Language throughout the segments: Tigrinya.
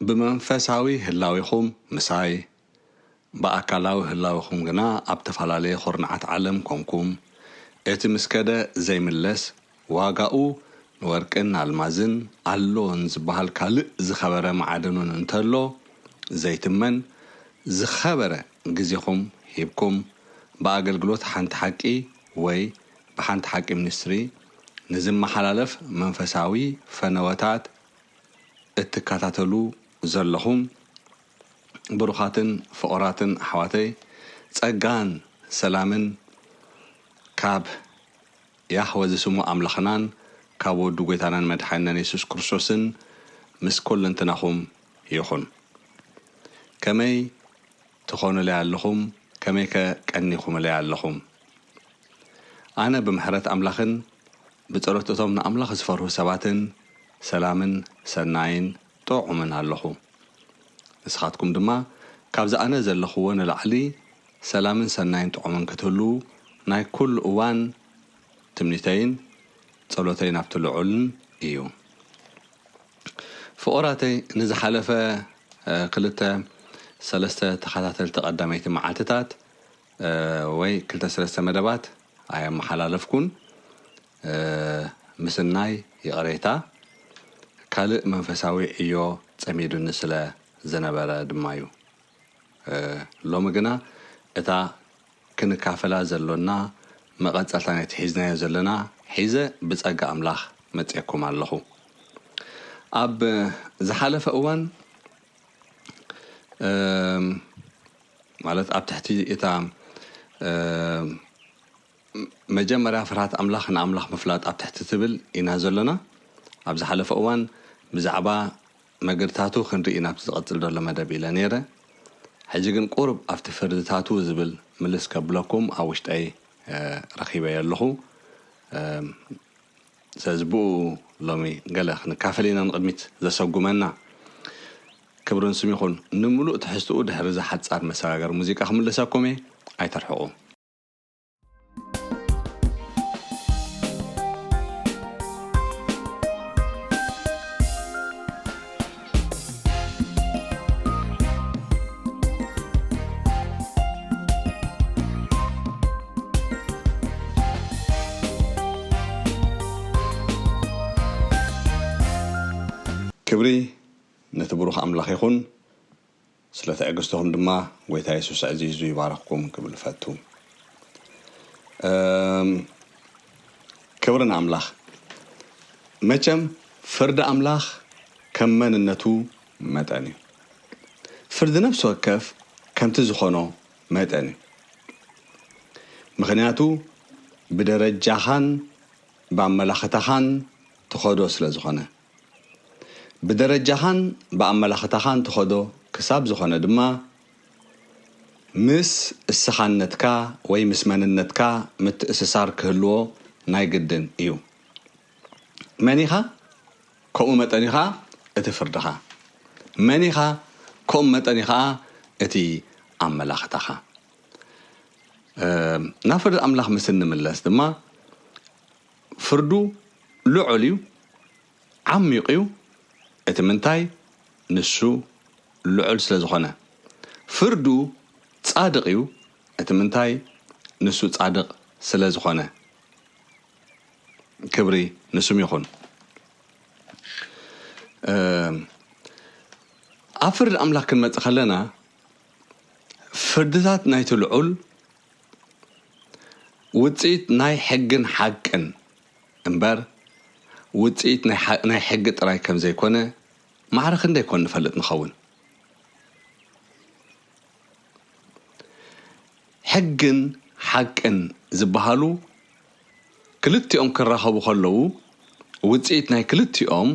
ብመንፈሳዊ ህላዌኹም ምሳይ፣ ብኣካላዊ ህላዌኹም ግና ኣብ ተፈላለየ ኹርናዓት ዓለም ኮንኩም፣ እቲ ምስ ከደ ዘይምለስ፣ ዋጋኡ ንወርቅን ኣልማዝን ኣሎን ዝበሃል ካልእ ዝኸበረ መዓደኑን እንተሎ ዘይትመን ዝኸበረ ግዜኹም ሂብኩም ብኣገልግሎት ሓንቲ ሓቂ ወይ ብሓንቲ ሓቂ ሚኒስትሪ ንዝመሓላለፍ መንፈሳዊ ፈነወታት እትከታተሉ ዘለኹም ብሩኻትን ፍቑራትን ኣሕዋተይ ጸጋን ሰላምን ካብ ያህወ ዝስሙ ኣምላኽናን ካብ ወዱ ጎይታናን መድሓኒናን የሱስ ክርስቶስን ምስ ኩለንትናኹም ይኹን። ከመይ ትኾኑለይ ኣለኹም ከመይከ ቀኒኹምለይ ኣለኹም? ኣነ ብምሕረት ኣምላኽን ብጸሎት እቶም ንኣምላኽ ዝፈርሁ ሰባትን ሰላምን ሰናይን ጥዑምን ኣሎኹ። ንስኻትኩም ድማ ካብዚ ኣነ ዘለኹዎ ንላዕሊ ሰላምን ሰናይን ጥዑምን ክትህልዉ ናይ ኩሉ እዋን ትምኒተይን ጸሎተይን ኣብቲ ልዑልን እዩ። ፍቑራተይ ንዝሓለፈ ክልተ ሰለስተ ተኸታተልቲ ቀዳመይቲ መዓልትታት ወይ ክልተ ስለስተ መደባት ኣየመሓላለፍኩን ምስናይ ይቕሬታ ካልእ መንፈሳዊ ዕዮ ጸሚዱኒ ስለ ዝነበረ ድማ'ዩ ሎሚ ግና እታ ክንካፈላ ዘሎና መቐጸልታ ናይቲ ሒዝናዮ ዘለና ሒዘ ብጸጋ ኣምላኽ መጼኩም ኣለኹ ኣብ ዝሓለፈ እዋን ማለት ኣብ ትሕቲ እታ መጀመርያ ፍርሃት ኣምላኽ ንኣምላኽ ምፍላጥ ኣብ ትሕቲ ትብል ኢና ዘሎና ኣብ ዝሓለፈ እዋን ብዛዕባ መገድታቱ ክንርኢ ናብቲ ዝቐጽል ዘሎ መደብ ኢለ ነይረ ሕጂ ግን ቁርብ ኣብቲ ፍርድታቱ ዝብል ምልስ ከብለኩም ኣብ ውሽጠይ ረኺበዮ ኣለኹ ስለዚ ብኡ ሎሚ ገለ ክንካፈል ኢና ንቕድሚት ዘሰጉመና። ክብርን ስም ይኹን። ንምሉእ ትሕዝትኡ ድሕሪ እዛ ሓጻር መሰጋገሪ ሙዚቃ ክምልሰኩም እየ። ኣይተርሕቑ። ክብሪ ነቲ ብሩኽ ኣምላኽ ይኹን። ስለ ትዕግስትኹም ድማ ጎይታ የሱስ ኣዕዚዙ ይባርኽኩም ክብል እፈቱ። እም ክብሪ ንኣምላኽ። መቸም ፍርዲ ኣምላኽ ከም መንነቱ መጠን እዩ። ፍርዲ ነፍሲ ወከፍ ከምቲ ዝኾኖ መጠን እዩ። ምኽንያቱ ብደረጃኻን ብኣመላኽታኻን ትኸዶ ስለ ዝኾነ። ብደረጃኻን ብኣመላኽታኻን ትኸዶ ክሳብ ዝኾነ ድማ ምስ እስኻነትካ ወይ ምስ መንነትካ ምትእስሳር ክህልዎ ናይ ግድን እዩ። መን ኢኻ? ከምኡ መጠን እዩ ኸኣ እቲ ፍርድኻ። መን ኢኻ? ከምኡ መጠን እዩ ኸኣ እቲ ኣመላኽታኻ። ናብ ፍርዲ ኣምላኽ ምስ እንምለስ ድማ ፍርዱ ልዑል እዩ፣ ዓሚቕ እዩ፣ እቲ ምንታይ ንሱ ልዑል ስለ ዝኾነ። ፍርዱ ጻድቕ እዩ፣ እቲ ምንታይ ንሱ ጻድቕ ስለ ዝኾነ። ክብሪ ንስም ይኹን። ኣብ ፍርዲ ኣምላኽ ክንመጽእ ከለና ፍርድታት ናይቲ ልዑል ውጽኢት ናይ ሕግን ሓቅን እምበር ውጽኢት ናይ ሕጊ ጥራይ ከም ዘይኮነ ማዕረ ክንደይ ኮን ንፈልጥ ንኸውን። ሕግን ሓቅን ዝበሃሉ ክልቲኦም ክራኸቡ ከለዉ ውጽኢት ናይ ክልቲኦም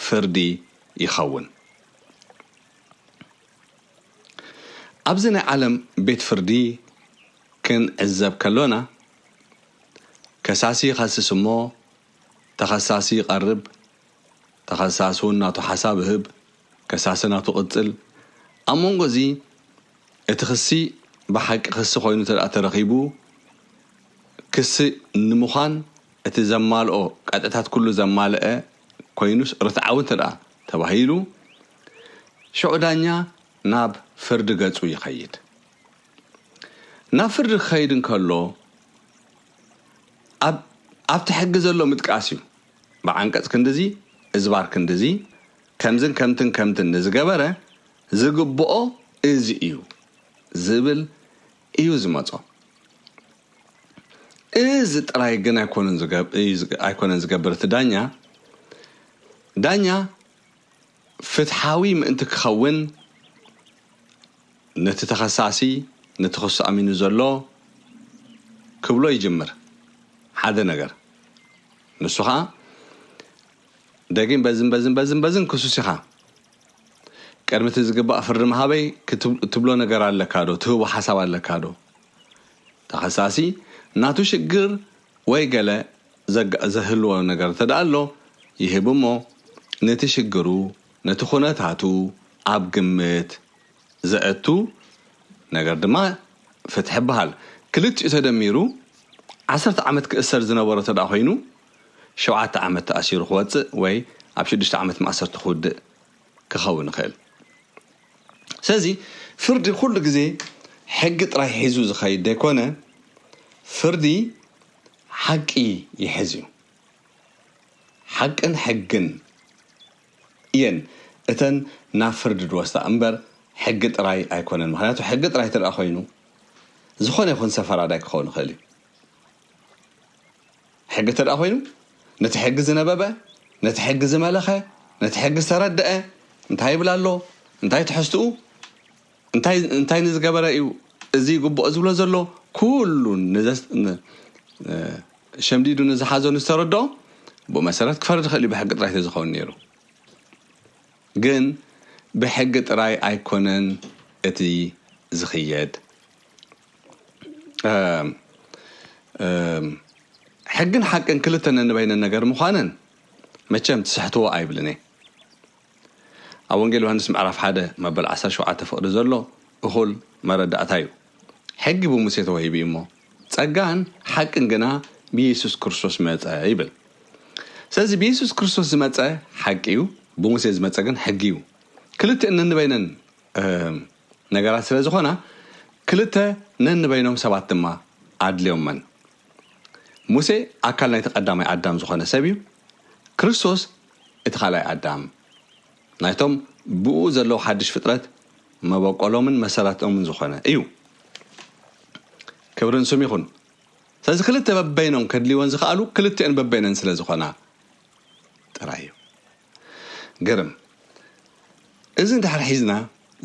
ፍርዲ ይኸውን። ኣብዚ ናይ ዓለም ቤት ፍርዲ ክንዕዘብ ከሎና፣ ከሳሲ ይኸስስ እሞ ተኸሳሲ ይቐርብ፣ ተኸሳሲ እውን ናቱ ሓሳብ እህብ፣ ከሳሲ ናቱ ቅጽል፣ ኣብ መንጎ እዚ እቲ ክሲ ብሓቂ ክሲ ኮይኑ እንተድኣ ተረኺቡ ክሲ ንምዃን እቲ ዘማልኦ ቀጥዕታት ኩሉ ዘማለኣ ኮይኑስ ርትዓዊ እንተድኣ ተባሂሉ ሽዑ ዳኛ ናብ ፍርዲ ገጹ ይኸይድ። ናብ ፍርዲ ክኸይድ እንከሎ ኣብ ኣብቲ ሕጊ ዘሎ ምጥቃስ እዩ። ብዓንቀጽ ክንድዚ እዝባር ክንድዚ ከምዝን ከምትን ከምትን ንዝገበረ ዝግብኦ እዚ እዩ ዝብል እዩ ዝመጾ። እዚ ጥራይ ግን ኣይኮነን ዝገብ እዩ ዝገ ኣይኮነን ዝገብር እቲ ዳኛ ዳኛ ፍትሓዊ ምእንቲ ክኸውን ነቲ ተኸሳሲ ነቲ ክሱ ኣሚኑ ዘሎ ክብሎ ይጅምር ሓደ ነገር ንሱ ኸኣ ደጊም በዝን በዝን በዝን በዝን ክሱስ ኢኻ ቅድሚ እቲ ዝግባእ ፍርዲ ምሃበይ እትብሎ ነገር ኣለካ ዶ? ትህቦ ሓሳብ ኣለካ ዶ? ተኸሳሲ ናቱ ሽግር ወይ ገለ ዘህልዎ ነገር እንተድኣ ኣሎ ይህብ እሞ ነቲ ሽግሩ ነቲ ኩነታቱ ኣብ ግምት ዘእቱ ነገር ድማ ፍትሒ ይበሃል። ክልቲኡ ተደሚሩ ዓሰርተ ዓመት ክእሰር ዝነበሮ እንተድኣ ኮይኑ፣ ሸውዓተ ዓመት ተኣሲሩ ክወጽእ ወይ ኣብ ሽዱሽተ ዓመት ማእሰርቲ ክውድእ ክኸውን ይኽእል። ስለዚ ፍርዲ ኩሉ ግዜ ሕጊ ጥራይ ሒዙ ዝኸይድ ዘይኮነ ፍርዲ ሓቂ ይሕዝ እዩ። ሓቅን ሕግን እየን እተን ናብ ፍርዲ ድወስዳ እምበር ሕጊ ጥራይ ኣይኮነን። ምክንያቱ ሕጊ ጥራይ እንተ ኮይኑ ዝኾነ ይኹን ሰብ ፈራዳይ ክኸውን ይኽእል እዩ። ሕጊ እንተድኣ ኮይኑ ነቲ ሕጊ ዝነበበ፣ ነቲ ሕጊ ዝመለኸ፣ ነቲ ሕጊ ዝተረደኣ እንታይ ይብል ኣሎ፣ እንታይ ትሕዝትኡ፣ እንታይ እንታይ ንዝገበረ እዩ እዚ ይግብኦ ዝብሎ ዘሎ ኩሉ ሸምዲዱ ንዝሓዞ ንዝተረድኦ ብኡ መሰረት ክፈርድ ይኽእል እዩ ብሕጊ ጥራይ ተዝኸውን ነይሩ። ግን ብሕጊ ጥራይ ኣይኮነን እቲ ዝኽየድ ሕግን ሓቅን ክልተ ነንበይነን ነገር ምዃነን መቸም ትስሕትዎ ኣይብልን እየ። ኣብ ወንጌል ዮሃንስ ምዕራፍ ሓደ መበል ዓሰርተ ሸውዓተ ፍቕዲ ዘሎ እኹል መረዳእታ እዩ። ሕጊ ብሙሴ ተዋሂቡ እዩ እሞ ጸጋን ሓቅን ግና ብየሱስ ክርስቶስ መጸ ይብል። ስለዚ ብየሱስ ክርስቶስ ዝመጸ ሓቂ እዩ፣ ብሙሴ ዝመጸ ግን ሕጊ እዩ። ክልቲኤን ነንበይነን ነገራት ስለ ዝኾና ክልተ ነንበይኖም ሰባት ድማ ኣድልዮመን። ሙሴ ኣካል ናይቲ ቀዳማይ ኣዳም ዝኾነ ሰብ እዩ፣ ክርስቶስ እቲ ካልኣይ ኣዳም ናይቶም ብእኡ ዘለዉ ሓድሽ ፍጥረት መበቆሎምን መሰረትኦምን ዝኾነ እዩ። ክብርን ስም ይኹን። ስለዚ ክልተ በበይኖም ከድልይወን ዝኸኣሉ ክልቲኦን በበይነን ስለ ዝኾና ጥራይ እዩ። ግርም እዚ እንድሕር ሒዝና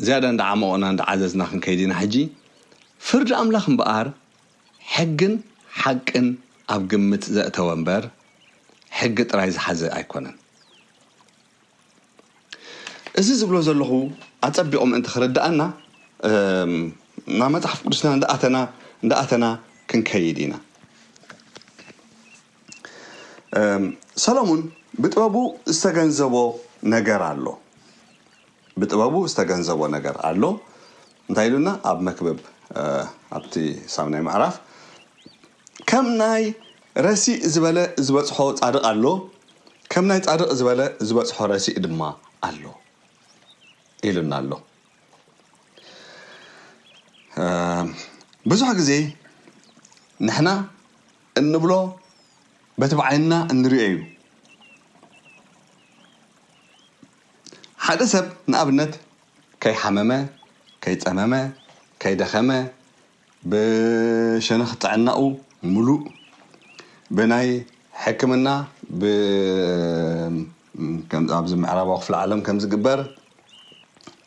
ዝያዳ እንዳዓሞቕና እንዳዓዘዝና ክንከይድ ኢና ሕጂ ፍርዲ ኣምላኽ እምበኣር ሕግን ሓቅን ኣብ ግምት ዘእተወ እምበር ሕጊ ጥራይ ዝሓዘ ኣይኮነን እዚ ዝብሎ ዘለኹ ኣጸቢቑ ምእንቲ ክርድኣና ናብ መጽሓፍ ቅዱስና እንዳኣተና እንዳኣተና ክንከይድ ኢና ሰለሙን ብጥበቡ ዝተገንዘቦ ነገር ኣሎ ብጥበቡ ዝተገንዘቦ ነገር ኣሎ እንታይ ኢሉና ኣብ መክብብ ኣብቲ ሳምናይ ምዕራፍ ከም ናይ ረሲእ ዝበለ ዝበፅሖ ፃድቕ ኣሎ ከም ናይ ፃድቕ ዝበለ ዝበፅሖ ረሲእ ድማ ኣሎ ኢሉና ኣሎ ብዙሕ ግዜ ንሕና እንብሎ በቲ ብዓይንና እንሪኦ እዩ። ሓደ ሰብ ንኣብነት ከይሓመመ፣ ከይጸመመ፣ ከይደኸመ፣ ብሸነኽ ጥዕናኡ ምሉእ ብናይ ሕክምና ብ ከምዚ ኣብዚ ምዕራባዊ ክፍለ ዓለም ከም ዝግበር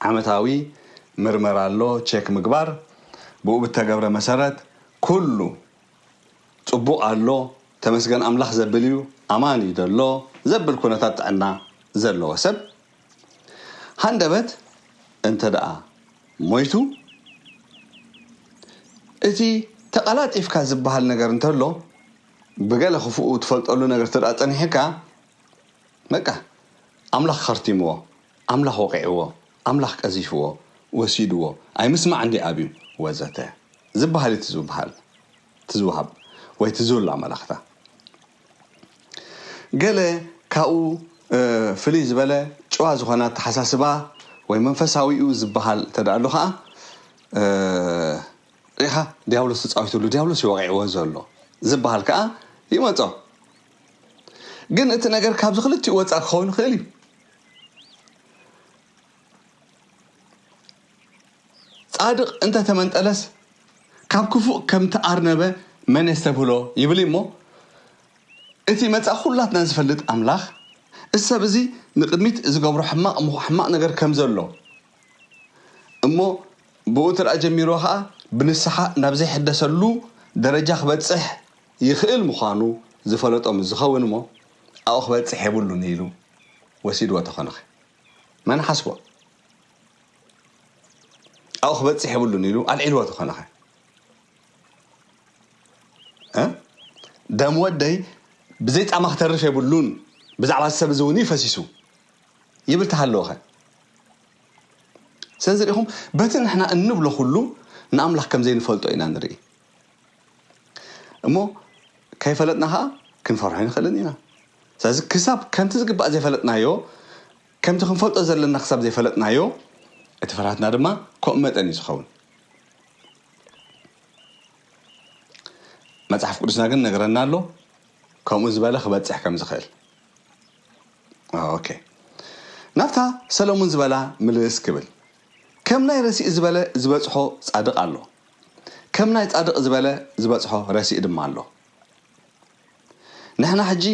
ዓመታዊ ምርመራ ኣሎ ቼክ ምግባር ብኡ ብተገብረ መሰረት ኩሉ ጽቡቕ ኣሎ ተመስገን ኣምላኽ ዘብል እዩ፣ ኣማን እዩ ዘሎ ዘብል ኩነታት ጥዕና ዘለዎ ሰብ ሃንደበት እንተድኣ ሞይቱ እቲ ተቐላጢፍካ ዝበሃል ነገር እንተሎ ብገለ ክፉኡ ትፈልጠሉ ነገር እንተድኣ ጸኒሕካ በቃ ኣምላኽ ከርቲምዎ ኣምላኽ ወቒዕዎ፣ ኣምላኽ ቀዚፍዎ፣ ወሲድዎ፣ ኣይምስማዕ እንድዩ ኣብዩ፣ ወዘተ ዝበሃል እዩ እቲ ዝብሃል፣ እቲ ዝወሃብ ወይ እቲ ዝብሎ ኣመላኽታ። ገለ ካብኡ ፍልይ ዝበለ ጭዋ ዝኾነ ኣተሓሳስባ ወይ መንፈሳዊ'ዩ ዝበሃል እንተድኣ ኣሎ ከኣ ርኢኻ ድያብሎስ ተጻዊትሉ፣ ድያብሎስ እዩ ወቒዕዎ ዘሎ ዝበሃል ከኣ ይመጾ። ግን እቲ ነገር ካብዚ ክልቲኡ ወጻእ ክኸውን ይኽእል እዩ። ጻድቕ እንተ ተመንጠለስ ካብ ክፉእ ከም ተኣርነበ መን የስተብህሎ ይብል እዩ'ሞ፣ እቲ መጻኢ ኩላትና ዝፈልጥ ኣምላኽ፣ እዚ ሰብ እዚ ንቕድሚት ዝገብሮ ሕማቕ እሞ ሕማቕ ነገር ከም ዘሎ እሞ ብኡ እንተ ጀሚርዎ ከኣ ብንስሓ ናብ ዘይሕደሰሉ ደረጃ ክበጽሕ ይኽእል ምዃኑ ዝፈለጦ ምስ ዝኸውን እሞ፣ ኣብኡ ክበጽሕ የብሉን ኢሉ ወሲድዎ ተኾነኸ መን ሓስቦ? ኣብኡ ክበጽሕ የብሉን ኢሉ ኣልዒልዎ ተኾነኸ ደም ወደይ ብዘይ ጻማ ክተርፍ የብሉን ብዛዕባ ሰብ እዚ እውን ፈሲሱ ይብል ተሃለወኸ ስለዚ ሪኢኹም በቲ ንሕና እንብሎ ኩሉ ንኣምላኽ ከም ዘይንፈልጦ ኢና ንርኢ እሞ ከይፈለጥና ከኣ ክንፈርሖ ኣይንኽእልን ኢና። ስለዚ ክሳብ ከምቲ ዝግባእ ዘይፈለጥናዮ፣ ከምቲ ክንፈልጦ ዘለና ክሳብ ዘይፈለጥናዮ፣ እቲ ፍርሃትና ድማ ከምኡ መጠን እዩ ዝኸውን። መጽሓፍ ቅዱስና ግን ነግረና ኣሎ ከምኡ ዝበለ ክበጽሕ ከም ዝኽእል። ኦኬ ናብታ ሰለሙን ዝበላ ምልስ ክብል ከም ናይ ረሲእ ዝበለ ዝበጽሖ ጻድቕ ኣሎ ከም ናይ ጻድቅ ዝበለ ዝበጽሖ ረሲእ ድማ ኣሎ ንሕና ሕጂ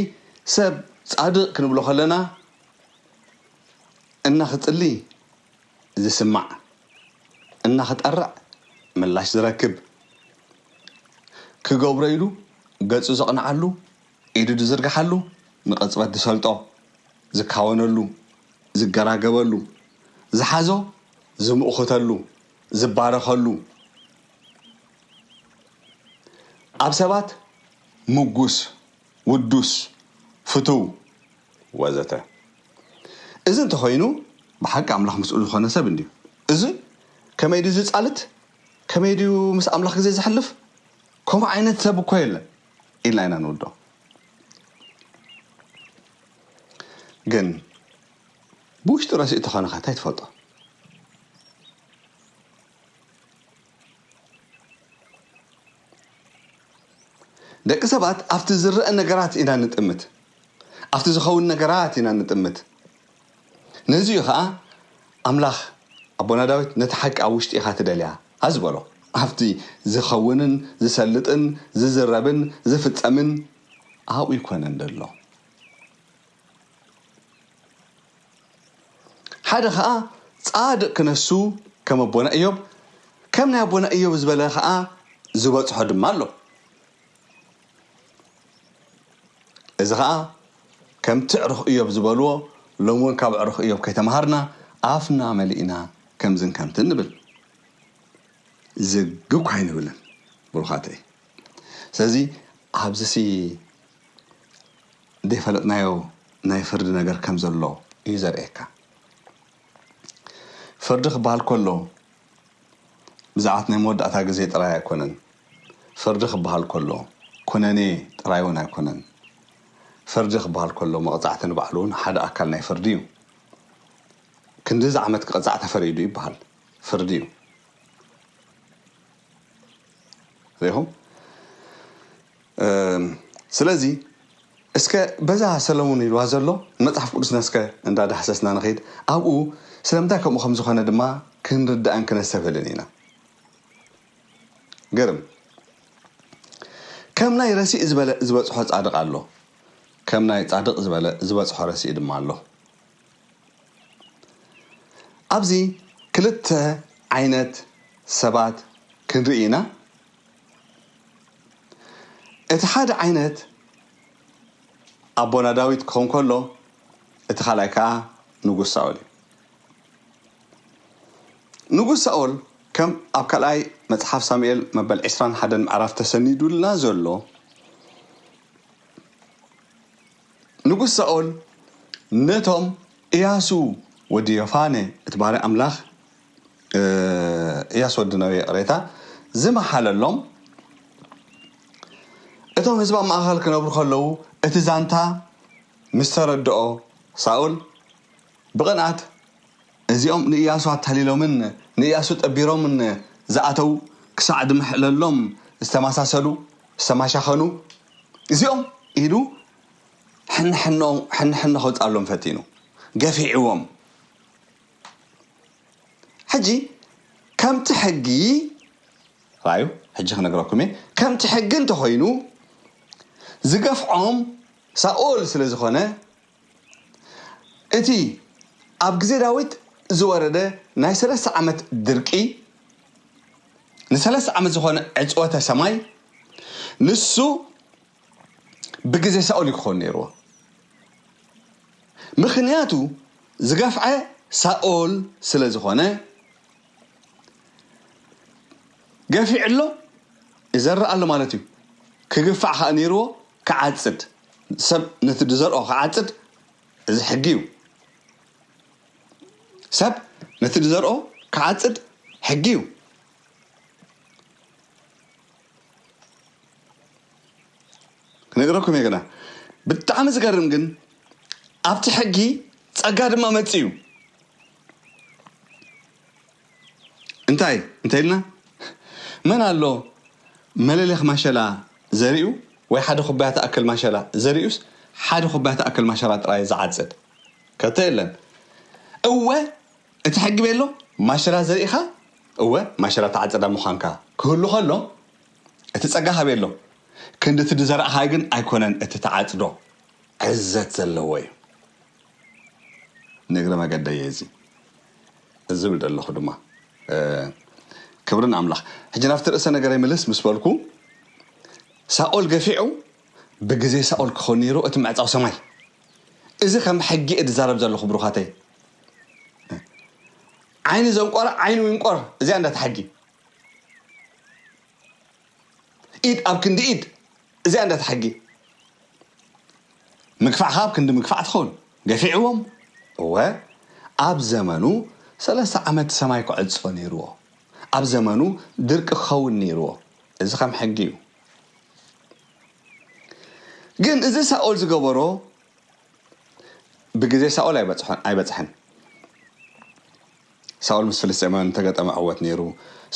ሰብ ጻድቅ ክንብሎ ከለና እና ክጽሊ ዝስማዕ እና ክጠርዕ ምላሽ ዝረክብ ክገብሮ ኢሉ ገጹ ዘቅንዓሉ ኢዱ ድዝርግሓሉ ንቅጽበት ድሰልጦ ዝካወነሉ ዝገራገበሉ ዝሓዞ ዝምእኩተሉ ዝባረኸሉ ኣብ ሰባት ምጉስ፣ ውዱስ፣ ፍቱው ወዘተ እዚ እንተኾይኑ ብሓቂ ኣምላኽ ምስኡ ዝኾነ ሰብ እንድዩ። እዚ ከመይ ድዩ ዝጻልት ከመይ ድዩ ምስ ኣምላኽ ግዜ ዘሕልፍ ከምኡ ዓይነት ሰብ እኮ የለን ኢልና ኢና ንውድኦ ግን ብውሽጢ ረሲኡ ተኾነኸ ታይ ትፈልጦ። ደቂ ሰባት ኣብቲ ዝረኣ ነገራት ኢና ንጥምት ኣብቲ ዝኸውን ነገራት ኢና ንጥምት ነዚ እዩ ኸኣ ኣምላኽ ኣቦና ዳዊት ነቲ ሓቂ ኣብ ውሽጢ ኢኻ ትደልያ ዝበሎ ኣብቲ ዝኸውንን ዝሰልጥን ዝዝረብን ዝፍጸምን ኣብኡ ኣይኮነን ዘሎ ሓደ ኸኣ ጻድቅ ክነሱ ከም ኣቦና እዮብ ከም ናይ ኣቦና እዮብ ዝበለ ኸኣ ዝበጽሖ ድማ ኣሎ እዚ ኸኣ ከምቲ ዕሩኽ እዮብ ዝበልዎ ሎም እውን ካብ ዕሩኽ እዮብ ከይተምሃርና ኣፍና መሊእና ከምዝን ከምትን ንብል ዝግ እኳ ኣይንብልን ብሩኻተይ ስለዚ ኣብዚ ዘይፈለጥናዮ ናይ ፍርዲ ነገር ከም ዘሎ እዩ ዘርእየካ። ፍርዲ ክበሃል ከሎ ብዛዕት ናይ መወዳእታ ግዜ ጥራይ ኣይኮነን። ፍርዲ ክበሃል ከሎ ኩነኔ ጥራይ እውን ኣይኮነን። ፍርዲ ክበሃል ከሎ መቕጻዕቲ ንባዕሉ እውን ሓደ ኣካል ናይ ፍርዲ እዩ። ክንድዚ ዓመት ክቐጻዕ ተፈሪዱ ይበሃል። ፍርዲ እዩ። ኹም ስለዚ እስከ በዛ ሰለሙን ኢልዋ ዘሎ መጽሓፍ ቅዱስና እስከ እንዳዳሕሰስና ንኸይድ ኣብኡ ስለምንታይ ከምኡ ከም ዝኾነ ድማ ክንርዳእን ክነሰብህልን ኢና ገርም ከም ናይ ረሲእ ዝበለ ዝበጽሖ ጻድቕ ኣሎ ከም ናይ ጻድቕ ዝበለ ዝበጽሖ ረሲእ ድማ ኣሎ ኣብዚ ክልተ ዓይነት ሰባት ክንርኢ ኢና። እቲ ሓደ ዓይነት ኣቦና ዳዊት ክኸውን ከሎ እቲ ካልኣይ ከኣ ንጉስ ሳኦል እዩ። ንጉስ ሳኦል ከም ኣብ ካልኣይ መጽሓፍ ሳሙኤል መበል 21 ምዕራፍ ተሰኒዱልና ዘሎ ንጉስ ሳኦል ነቶም እያሱ ወዲ ዮፋነ እቲ ባርያ ኣምላኽ እያሱ ወዲ ነዌ ይቕሬታ ዝመሓለሎም እቶም ህዝቢ ኣብ ማእኸል ክነብሩ ከለዉ እቲ ዛንታ ምስ ተረድኦ ሳኦል ብቕንኣት እዚኦም ንእያሱ ኣታሊሎምን ንእያሱ ጠቢሮምን ዝኣተዉ ክሳዕ ድምሕለሎም ዝተማሳሰሉ፣ ዝተማሻኸኑ፣ እዚኦም ኢሉ ሕንሕኖ ከውጽኣሎም ፈቲኑ። ገፊዕዎም። ሕጂ ከምቲ ሕጊ፣ ርኣዩ ሕጂ ክነግረኩም እየ፣ ከምቲ ሕጊ እንተኾይኑ ዝገፍዖም ሳኦል ስለ ዝኾነ፣ እቲ ኣብ ግዜ ዳዊት ዝወረደ ናይ ሰለስተ ዓመት ድርቂ፣ ንሰለስተ ዓመት ዝኾነ ዕጽወተ ሰማይ፣ ንሱ ብግዜ ሳኦል እዩ ክኾን ነይርዎ። ምኽንያቱ ዝገፍዐ ሳኦል ስለ ዝኾነ ገፊዑ ኣሎ ይዘርእ ኣሎ ማለት እዩ። ክግፋዕ ከኣ ነይርዎ ክዓጽድ። ሰብ ነቲ ዝዘርኦ ክዓጽድ እዚ ሕጊ እዩ። ሰብ ነቲ ዝዘርኦ ክዓጽድ ሕጊ እዩ። ክነግረኩም እየ ግና ብጣዕሚ ዝገርም ግን ኣብቲ ሕጊ ጸጋ ድማ መጽኡ እዩ። እንታይ እንተኢልና መን ኣሎ መለሊኽ ማሸላ ዘሪኡ ወይ ሓደ ኩባያ ትኣክል ማሸላ ዘሪኡስ ሓደ ኩባያ ትኣክል ማሸላ ጥራይ ዝዓጽድ ከቶ የለን። እወ እቲ ሕጊ ቤሎ ማሸላ ዘሪእኻ እወ ማሸላ ትዓጽዳ ምዃንካ ክህሉ ከሎ እቲ ጸጋኻ ቤሎ ክንዲ እቲ ዝዘራእኻዮ ግን ኣይኮነን እቲ ትዓጽዶ ዕዘት ዘለዎ እዩ። ንእግረ መገደይ እየ እዚ ዝብል ደለኹ ድማ ክብሪ ንኣምላኽ ሕጂ ናብቲ ርእሰ ነገረይ ምልስ ምስ በልኩ ሳኦል ገፊዑ ብግዜ ሳኦል ክኸውን ነይሩ እቲ ምዕጻው ሰማይ እዚ ከም ሕጊ እየ ዝዛረብ ዘለኹ ብሩኻተይ ዓይኒ ዘንቆረ ዓይኑ ይንቆር እዚኣ እንዳታ ሕጊ ኢድ ኣብ ክንዲ ኢድ እዚኣ እንዳ ተሓጌ ምግፋዕ ኻብ ክንዲ ምግፋዕ ትኸውን ገፊዕዎም እወ ኣብ ዘመኑ ሰለስተ ዓመት ሰማይ ክዕጾ ነይርዎ ኣብ ዘመኑ ድርቂ ክኸውን ነይርዎ እዚ ከም ሕጊ እዩ ግን እዚ ሳኦል ዝገበሮ ብግዜ ሳኦል ኣይበጽሖን ኣይበጽሐን ሳኦል ምስ ፍልስጤማውያን እተገጠመ ዕወት ነይሩ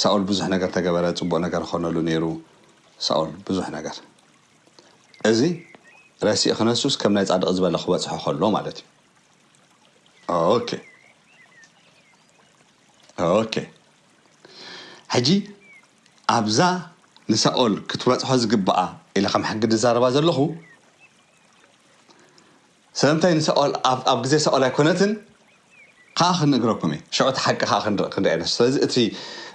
ሳኦል ብዙሕ ነገር ተገበረ ጽቡቅ ነገር ኾነሉ ነይሩ ሳኦል ብዙሕ ነገር እዚ ረሲእ ክነሱስ ከም ናይ ጻድቅ ዝበለ ክበጽሖ ኾሎ ማለት እዩ ኦኬ ኦኬ ሕጂ ኣብዛ ንሳኦል ክትበጽሖ ዝግብኣ ኢለ ከም ሕጊ ድዛረባ ዘለኹ ስለምንታይ ንሳኦል ኣብ ግዜ ሳኦል ኣይኮነትን ከኣ ክንእግረኩም እየ ሽዑ እቲ ሓቂ ከኣ ክንርእ ኢና ስለዚ እቲ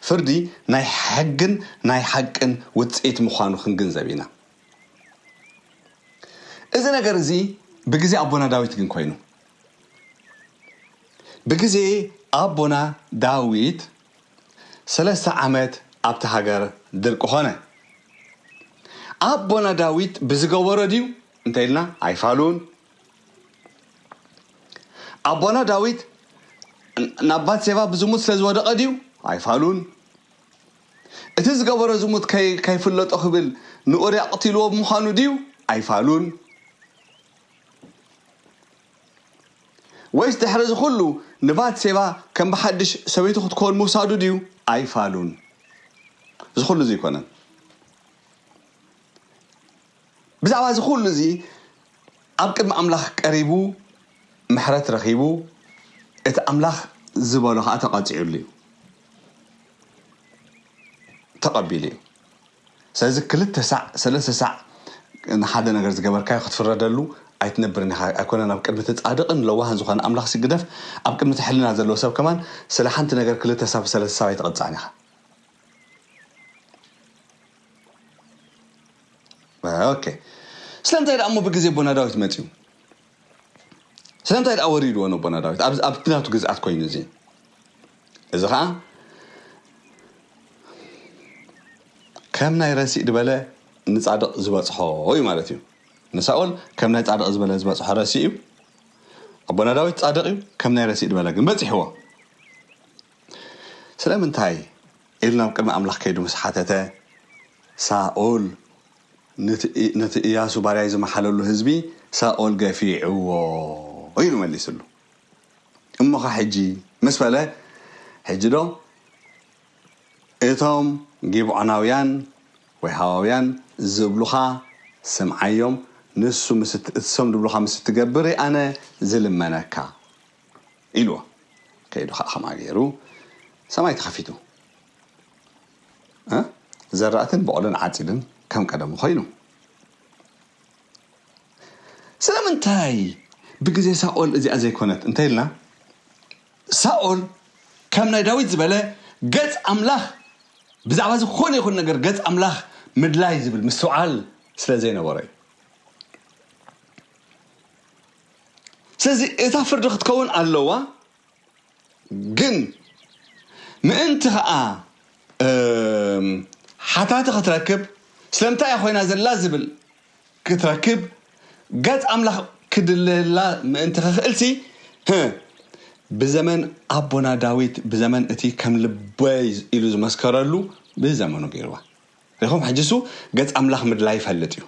ፍርዲ ናይ ሕግን ናይ ሓቅን ውጽኢት ምዃኑ ክንግንዘብ ኢና እዚ ነገር እዚ ብግዜ ኣቦና ዳዊት ግን ኮይኑ ብግዜ ኣቦና ዳዊት ሰለስተ ዓመት ኣብቲ ሃገር ድርቂ ኾነ ኣቦና ዳዊት ብዝገበሮ ድዩ እንታይ ኢልና ኣይፋሉን ኣቦና ዳዊት ናብ ባትሴባ ብዝሙት ስለ ዝወደቐ ድዩ ኣይፋሉን እቲ ዝገበሮ ዝሙት ከይፍለጦ ክብል ንኡርያ ቅትልዎ ብምዃኑ ድዩ ኣይፋሉን ወይስ ድሕሪ እዚ ኩሉ ንባትሴባ ከም ብሓድሽ ሰበይቱ ክትከውን ምውሳዱ ድዩ ኣይፋሉን እዚ ኩሉ እዚ ኣይኮነን ብዛዕባ እዚ ዅሉ እዚ ኣብ ቅድሚ ኣምላኽ ቀሪቡ ምሕረት ረኺቡ፣ እቲ ኣምላኽ ዝበሎ ኸኣ ተቐጺዑሉ እዩ፣ ተቐቢሉ እዩ። ስለዚ ክልተ ሳዕ ሰለስተ ሳዕ ንሓደ ነገር ዝገበርካዮ ክትፍረደሉ ኣይትነብርን ኢኻ፣ ኣይኮነን ኣብ ቅድሚ እቲ ጻድቕን ለዋህን ዝኾነ ኣምላኽሲ ግደፍ፣ ኣብ ቅድሚ እቲ ሕልና ዘለዎ ሰብ ከማን ስለ ሓንቲ ነገር ክልተ ሳብ ሰለስተ ሳብ ኣይትቕጻዕን ኢኻ። ኦኬ ስለምንታይ ደኣ እሞ ብግዜ ኣቦና ዳዊት መጺኡ ስለምንታይ ደኣ ወሪድዎ ነቦና ዳዊት ኣብ ናቱ ግዝኣት ኮይኑ እዚ እዚ ከዓ ከም ናይ ረሲእ ድበለ ንፃድቕ ዝበፅሖ እዩ ማለት እዩ ንሳኦል ከም ናይ ፃድቕ ዝበለ ዝበፅሖ ረሲእ እዩ ኣቦና ዳዊት ፃድቕ እዩ ከም ናይ ረሲእ ድበለ ግን በፂሕዎ ስለምንታይ? ኢሉ ናብ ቅድሚ ኣምላኽ ከይዱ ምስ ሓተተ፣ ሳኦል ነቲ እያሱ ባርያይ ዝመሓለሉ ህዝቢ ሳኦል ገፊዕዎ ኢሉ መሊሱሉ። እሞኸ ሕጂ? ምስ በለ፣ ሕጂዶ እቶም ጊብዖናውያን ወይ ሃዋውያን ዝብሉኻ ስምዓዮም፣ ንሱ ምስ እትሰም ድብሉኻ ምስ እትገብር እየ ኣነ ዝልመነካ። ኢልዎ ከይዱ ኸኣ ከምኣ ገይሩ ሰማይ ተኸፊቱ እ ዘራእትን ቦቕልን ዓጺድን ከም ቀደሙ ኾይኑ። ስለምንታይ ብግዜ ሳኦል እዚኣ ዘይኮነት እንተ ኢልና ሳኦል ከም ናይ ዳዊት ዝበለ ገጽ ኣምላኽ ብዛዕባ ዝኾነ ይኹን ነገር ገጽ ኣምላኽ ምድላይ ዝብል ምስትውዓል ስለ ዘይነበሮ እዩ። ስለዚ እታ ፍርዲ ክትከውን ኣለዋ ግን ምእንቲ ከኣ ሓታቲ ክትረክብ ስለምንታይ እያ ኮይና ዘላ ዝብል ክትረክብ ገጽ ኣምላኽ ክድለየላ ምእንቲ ክኽእልሲ ብዘመን ኣቦና ዳዊት ብዘመን እቲ ከም ልበይ ኢሉ ዝመስከረሉ ብዘመኑ ገይርዋ ሪኹም ሕጅሱ ገጽ ኣምላኽ ምድላይ ይፈልጥ እዩ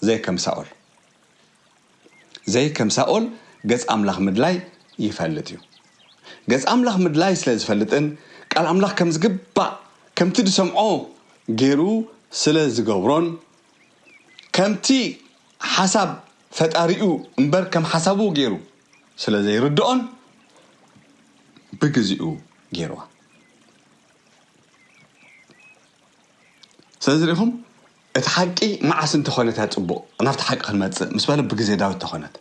ዘይከም ሳኦል ዘይ ከም ሳኦል ገጽ ኣምላኽ ምድላይ ይፈልጥ እዩ። ገጽ ኣምላኽ ምድላይ ስለ ዝፈልጥን ቃል ኣምላኽ ከም ዝግባእ ከምቲ ዝሰምዖ ጌሩ ስለ ዝገብሮን ከምቲ ሓሳብ ፈጣሪኡ እምበር ከም ሓሳቡ ጌሩ ስለ ዘይርድኦን ብግዚኡ ጌርዋ። ስለዚ ሪኢኹም እቲ ሓቂ መዓስ እንተኾነ እታ ጽቡቕ ናብቲ ሓቂ ክንመጽእ ምስ በለ ብግዜ ዳዊት ተኾነት።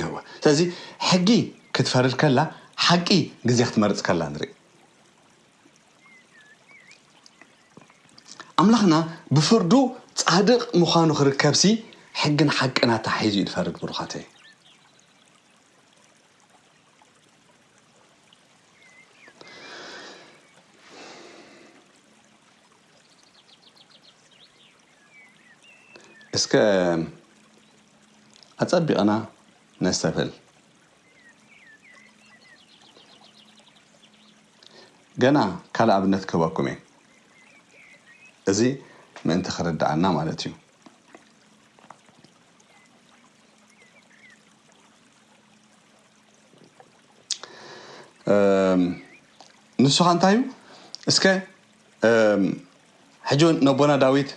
እወ ስለዚ ሕጊ ክትፈርድ ከላ ሓቂ ግዜ ክትመርጽ ከላ ንርኢ። ኣምላኽና ብፍርዱ ጻድቕ ምዃኑ ክርከብሲ ሕግን ሓቅን ኣተሓሒዙ እዩ ዝፈርድ ብሩኻተይ። እስከ ኣጸቢቕና ነስተብህል። ገና ካልእ ኣብነት ክህበኩም እየ። እዚ ምእንቲ ክርድኣና ማለት እዩ። ንሱ ኸ እንታይ እዩ? እስከ ሕጂ ውን ነቦና ዳዊት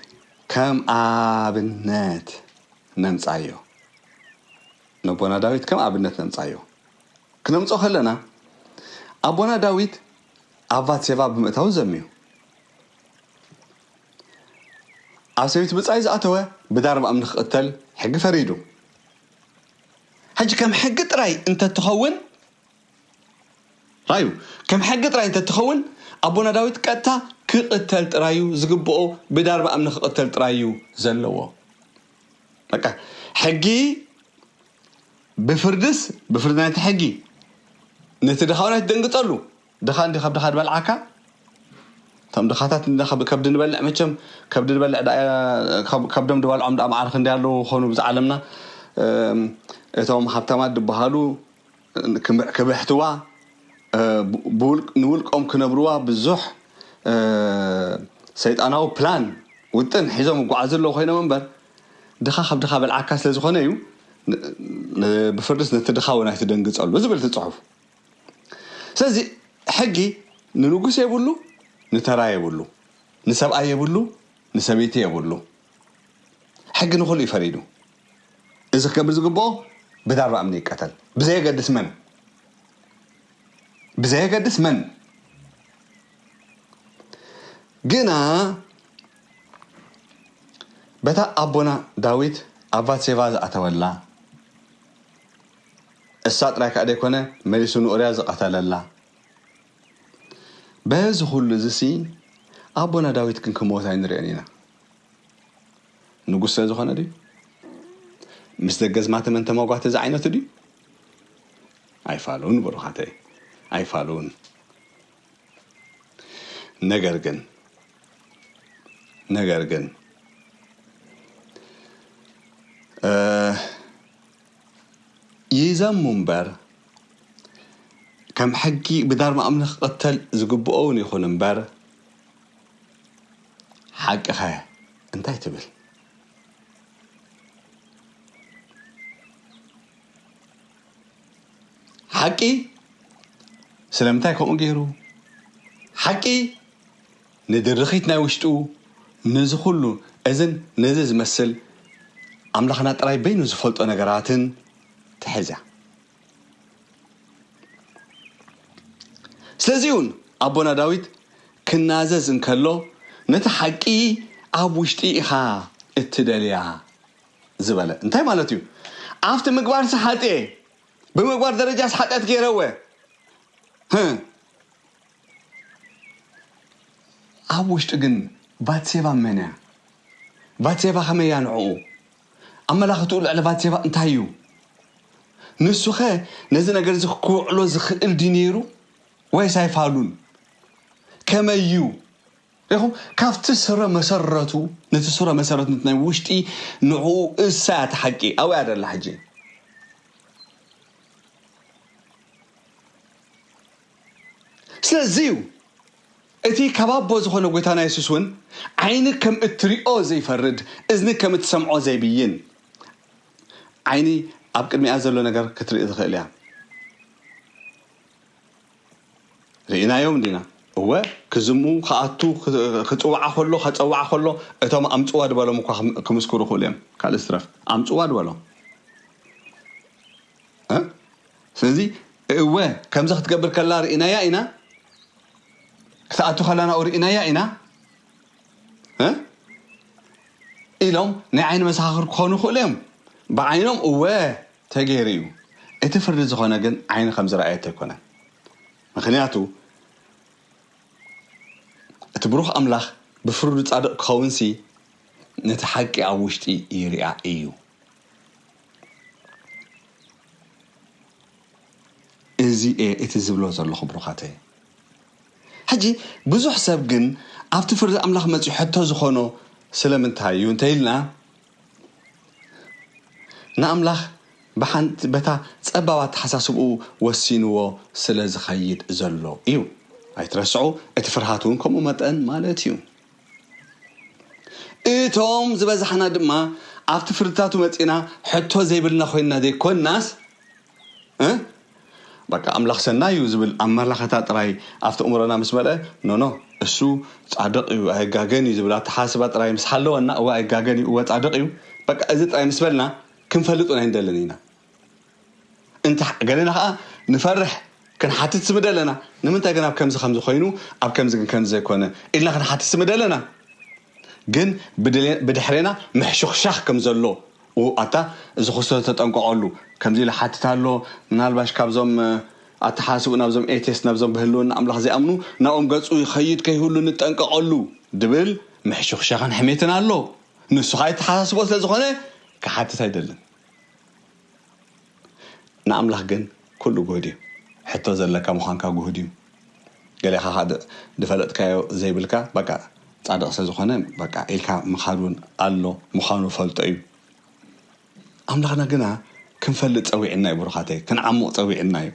ከም ኣብነት ነምጻዮ ነቦና ዳዊት ከም ኣብነት ነምጻዮ ክነምጾ ከለና ኣቦና ዳዊት ኣብ ቫትሴቫ ብምእታው ዘምዩ ኣብ ሰበይቲ ብጻይ ዝኣተወ ብዳር ምኣም ንክቕተል ሕጊ ፈሪዱ ሕጂ ከም ሕጊ ጥራይ እንተትኸውን ራዩ ከም ሕጊ ጥራይ እንተትኸውን ኣቦና ዳዊት ቀጥታ ክቅተል ጥራዩ ዝግብኦ ብዳርባ እምኒ ክቅተል ጥራዩ ዘለዎ በቃ ሕጊ ብፍርድስ ብፍርድ ናይቲ ሕጊ ነቲ ድኻውን ኣይትደንግጸሉ ድኻ እንዲ ካብ ድኻ ድበልዓካ እቶም ድኻታት ከብዲ ንበልዕ መቸም ከብዲ ንበልዕ ከብዶም ድበልዖም ድኣ መዓርክ እንዲ ኣለዉ ኮኑ ብዛ ዓለምና እቶም ሃብታማት ድበሃሉ ከብሕትዋ ንውልቆም ክነብርዋ ብዙሕ ሰይጣናዊ ፕላን ውጥን ሒዞም ይጓዓዙ ኣለዉ ኮይኖም እምበር ድኻ ካብ ድኻ በልዓካ ስለ ዝኾነ እዩ ብፍርድስ ነቲ ድኻ እውን ኣይትደንግጸሉ ዝብል እቲ ጽሑፍ ስለዚ ሕጊ ንንጉስ የብሉ ንተራ የብሉ ንሰብኣይ የብሉ ንሰበይቲ የብሉ ሕጊ ንኹሉ እዩ ፈሪዱ እዚ ክገብር ዝግብኦ ብዳርባ እምኒ ይቀተል ብዘየገድስ መን ብዘየገድስ መን ግና በታ ኣቦና ዳዊት ኣብ ቫትሴቫ ዝኣተወላ እሳ ጥራይ ከዓ ዘይኮነ መሊሱ ንኡርያ ዝቐተለላ በዚ ኩሉ እዚሲ ኣቦና ዳዊት ግን ክመወት ኣይንርእን ኢና ንጉሰ ዝኾነ ድዩ? ምስ ደገዝማቲ መን ተመጓቲ ዝዓይነቱ ድዩ? ኣይፋሉን ብሩኻተይ ኣይፋሉን ነገር ግን ነገር ግን ይዘሙ እምበር ከም ሕጊ ብዳርማ ኣምልኽ ክቕተል ዝግብኦ እውን ይኹን እምበር ሓቅኻ እያ እንታይ ትብል። ሓቂ ስለምንታይ ከምኡ ገይሩ ሓቂ ንድርኺት ናይ ውሽጡ ነዚ ኩሉ እዝን ነዚ ዝመስል ኣምላኽና ጥራይ በይኑ ዝፈልጦ ነገራትን ትሕዝ እያ ስለዚ እውን ኣቦና ዳዊት ክናዘዝ እንከሎ ነቲ ሓቂ ኣብ ውሽጢ ኢኻ እትደልያ ዝበለ እንታይ ማለት እዩ ኣብቲ ምግባር ሰሓጤ ብምግባር ደረጃ ሰሓጢያት ገይረወ ኣብ ውሽጢ ግን ባትሴባ መን እያ ባትሴባ ከመይ እያ ንዕኡ ኣመላኽትኡ ልዕሊ ባትሴባ እንታይ እዩ? ንሱኸ ነዚ ነገር እዚ ኺውዕሎ ዚኽእል ድዩ ነይሩ ወይስ ኣይፋሉን? ከመይ እዩ? ርኢኹም፣ ካብቲ ስረ መሰረቱ፣ ነቲ ስረ መሰረት፣ ነቲ ናይ ውሽጢ ንዕኡ እሳ እያ እቲ ሓቂ፣ ኣብኡ እያ ደላ ሕጂ። ስለዚ እዩ እቲ ካብ ኣቦ ዝኾነ ጐይታና የሱስ እውን ዓይኒ ከም እትሪኦ ዘይፈርድ እዝኒ ከም እትሰምዖ ዘይብይን ዓይኒ ኣብ ቅድሚኣ ዘሎ ነገር ክትርኢ ትኽእል እያ ርኢናዮም እንዲና እወ ክዝሙ ክኣቱ ክፅውዓ ከሎ ከፀውዓ ከሎ እቶም ኣምፅዋ ድበሎም እኳ ክምስክሩ ክእሉ እዮም ካልእ ዝትረፍ ኣምፅዋ ድበሎም ስለዚ እወ ከምዚ ክትገብር ከላ ርኢናያ ኢና፣ ክትኣቱ ከላ ናብኡ ርኢናያ ኢና ኢሎም ናይ ዓይኒ መሰኻኽር ክኾኑ ይኽእሉ እዮም። ብዓይኖም እወ ተገይሩ እዩ፣ እቲ ፍርዲ ዝኾነ ግን ዓይኒ ከም ዝረኣየቶ ኣይኮነን። ምክንያቱ እቲ ብሩኽ ኣምላኽ ብፍርዱ ጻድቕ ክኸውንሲ ነቲ ሓቂ ኣብ ውሽጢ ይርኣ እዩ። እዚ እየ እቲ ዝብሎ ዘለኹ ብሩኻተይ። ሕጂ ብዙሕ ሰብ ግን ኣብቲ ፍርዲ ኣምላኽ መጺኡ ሕቶ ዝኾኖ ስለምንታይ እዩ እንተኢልና ንኣምላኽ ብሓንቲ በታ ጸባብ ኣተሓሳስብኡ ወሲንዎ ስለ ዝኸይድ ዘሎ እዩ። ኣይትረስዑ እቲ ፍርሃት እውን ከምኡ መጠን ማለት እዩ። እቶም ዝበዛሕና ድማ ኣብቲ ፍርድታቱ መጺና ሕቶ ዘይብልና ኮይንና ዘይኮንናስ በቃ ኣምላኽ ሰናይ እዩ ዝብል ኣመላኸታ ጥራይ ኣብቲ እምሮና ምስ መልአ ኖኖ እሱ ጻድቕ እዩ ኣይጋገን እዩ ዝብል ኣተሓሳስባ ጥራይ ምስ ሓለወና እወ ኣይጋገን እዩ እወ ጻድቕ እዩ በቃ እዚ ጥራይ ምስ በልና ክንፈልጥ እውን ኣይንደልን ኢና እንተ ገለና ከኣ ንፈርሕ ክንሓትት ስምደ ኣለና ንምንታይ ግን ኣብ ከምዚ ከምዚ ኮይኑ ኣብ ከምዚ ግን ከምዚ ዘይኮነ ኢልና ክንሓትት ስምደ ኣለና ግን ብድሕሬና ምሕሹኽሻኽ ከም ዘሎ ኣታ እዚ ክስቶ ተጠንቀቐሉ ከምዚ ኢሉ ሓትት ኣሎ ምናልባሽ ካብዞም ኣተሓሳስብኡ ናብዞም ኤቴስ ናብዞም ብህልውና ኣምላኽ ዘይኣምኑ ናብኦም ገጹ ይኸይድ ከይህሉ ንጠንቀቐሉ ድብል ምሕሹኽሻኽን ሕሜትን ኣሎ ንሱ ከኣ የተሓሳስቦ ስለ ዝኾነ ክሓትት ኣይደልን ንኣምላኽ ግን ኩሉ ግሁድ እዩ። ሕቶ ዘለካ ምዃንካ ግሁድ እዩ። ገሌኻ ከኣ ድፈለጥካዮ ዘይብልካ በቃ ጻድቕ ስለ ዝኾነ በቃ ኢልካ ምኻድ ውን ኣሎ ምዃኑ ፈልጦ እዩ። ኣምላኽና ግና ክንፈልጥ ጸዊዕና እዩ ብሩኻተይ ክንዓሙቕ ጸዊዕና እዩ።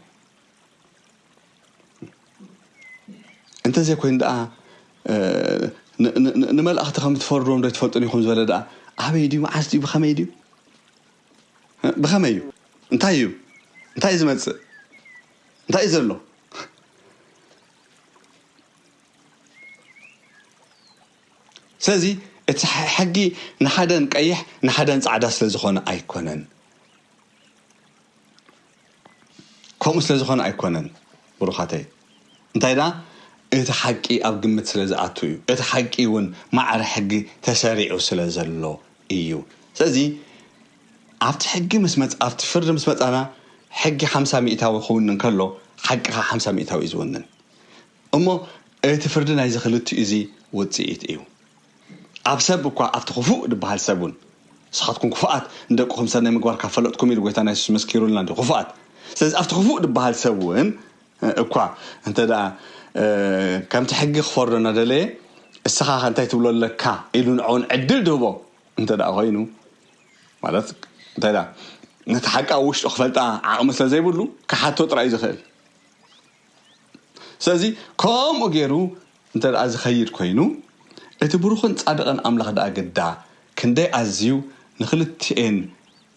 እንተዘይኮይኑ ደኣ ንመላእኽቲ ከም እትፈርድዎም ዶ ኣይትፈልጡን ኢኹም ዝበለ ደኣ ኣበይ ድዩ መዓስ ድዩ ብኸመይ ድዩ ብኸመይ እዩ እንታይ እዩ እንታይ እዩ ዝመጽእ እንታይ እዩ ዘሎ ስለዚ እቲ ሕጊ ንሓደን ቀይሕ ንሓደን ጻዕዳ ስለ ዝኾነ ኣይኮነን ከምኡ ስለ ዝኾነ ኣይኮነን ብሩኻተይ እንታይ ደኣ እቲ ሓቂ ኣብ ግምት ስለ ዝኣቱ እዩ እቲ ሓቂ እውን ማዕረ ሕጊ ተሰሪዑ ስለ ዘሎ እዩ ስለዚ ኣብቲ ሕጊ ምስ መጽ ኣብቲ ፍርዲ ምስ መጻና ሕጊ ሓምሳ ሚእታዊ ክውንን ከሎ ሓቂ ከኣ ሓምሳ ሚእታዊ እዩ ዝውንን እሞ እቲ ፍርዲ ናይዚ ክልቲኡ'ዚ ውጽኢት እዩ። ኣብ ሰብ እኳ ኣብቲ ክፉእ ዝበሃል ሰብ እውን ንስኻትኩም ክፉኣት ንደቅኹም ሰናይ ምግባር ካብ ፈለጥኩም ኢሉ ጎይታና የሱስ መስኪሩልና እንድዩ ክፉኣት ስለዚ ኣብቲ ክፉእ ዝበሃል ሰብ እውን እኳ እንተደኣ ከምቲ ሕጊ ክፈርዶ እናደለየ እስኻ ከ እንታይ ትብሎ ኣለካ ኢሉ ንዕኡ እውን ዕድል ድህቦ እንተደኣ ኮይኑ ማለት እንታይ ደኣ ነቲ ሓቂ ኣብ ውሽጡ ክፈልጣ ዓቕሚ ስለ ዘይብሉ ክሓቶ ጥራይ እዩ ዝኽእል ስለዚ ከምኡ ገይሩ እንተድኣ ዚኸይድ ኰይኑ፣ እቲ ብሩኽን ጻድቕን ኣምላኽ ደኣ ግዳ ክንደይ ኣዝዩ ንኽልቲኤን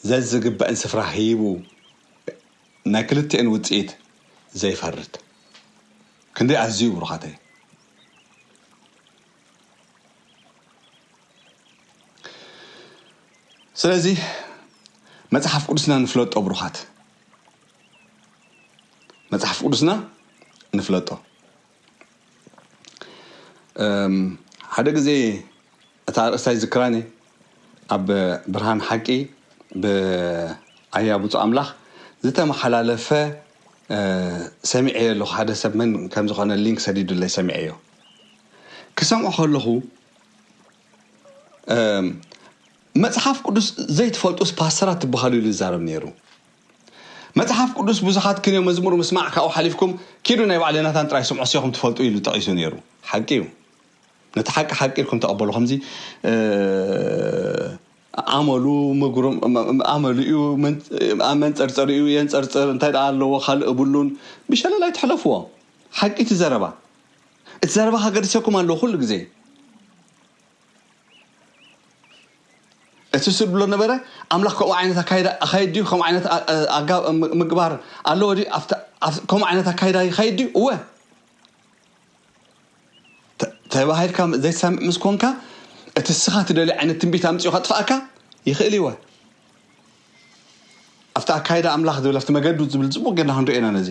ዘዝግበእን ስፍራ ሂቡ ናይ ክልቲኤን ውጽኢት ዘይፈርድ ክንደይ ኣዝዩ ብሩኻተይ። ስለዚ መጽሓፍ ቅዱስና ንፍለጦ ብሩኻት። መጽሓፍ ቅዱስና ንፍለጦ ሓደ ግዜ እታ ኣርእስታይ ዝክራኒ ኣብ ብርሃን ሓቂ ብኣያ ብፁ ኣምላኽ ዝተመሓላለፈ ሰሚዐዮ ኣለኹ ሓደ ሰብ መን ከም ዝኾነ ሊንክ ሰዲዱለይ ሰሚዐዮ ክሰምዖ ከለኹ መጽሓፍ ቅዱስ ዘይትፈልጡስ ፓስተራት ትበሃሉ ኢሉ ይዛረብ ኔሩ መጽሓፍ ቅዱስ ብዙሓት ክንዮ መዝሙር ምስማዕ ካብኡ ሓሊፍኩም ኪዱ ናይ ባዕል ናታን ጥራይ ስምዑ እሴኹም ትፈልጡ ኢሉ ጠቂሱ ኔሩ ሓቂ እዩ ነቲ ሓቂ ሓቂ ኢልኩም ተቀበሉ ከምዚ ኣመሉ ምጉሩም ኣመሉ እዩ መንጸርጸሪ እዩ የንጸርጽር እንታይ ደኣ ኣለዎ ካልእ እብሉን ብሸለል ኣይትሕለፍዎ ሓቂ እቲ ዘረባ እቲ ዘረባ ከገድሰኩም ኣለዎ ኩሉ ግዜ እቲ ስብ ብሎ ነበረ ኣምላኽ ከምኡ ዓይነት ኣካይዳ ኣካይድ ድዩ ከምኡ ዓይነት ኣጋ ምግባር ኣለዎ ድዩ ከምኡ ዓይነት ኣካይዳ ይካይድ ድዩ እወ ተባሂልካ ዘይትሰምዕ ምስ ኮንካ እቲ እስኻ ትደልዩ ዓይነት ትንቢት ኣምፅኡ ከጥፍኣካ ይኽእል ይወ ኣብቲ ኣካይዳ ኣምላኽ ዝብል ኣብቲ መገዱ ዝብል ፅቡቅ ገና ክንሪኦ ኢና ነዚ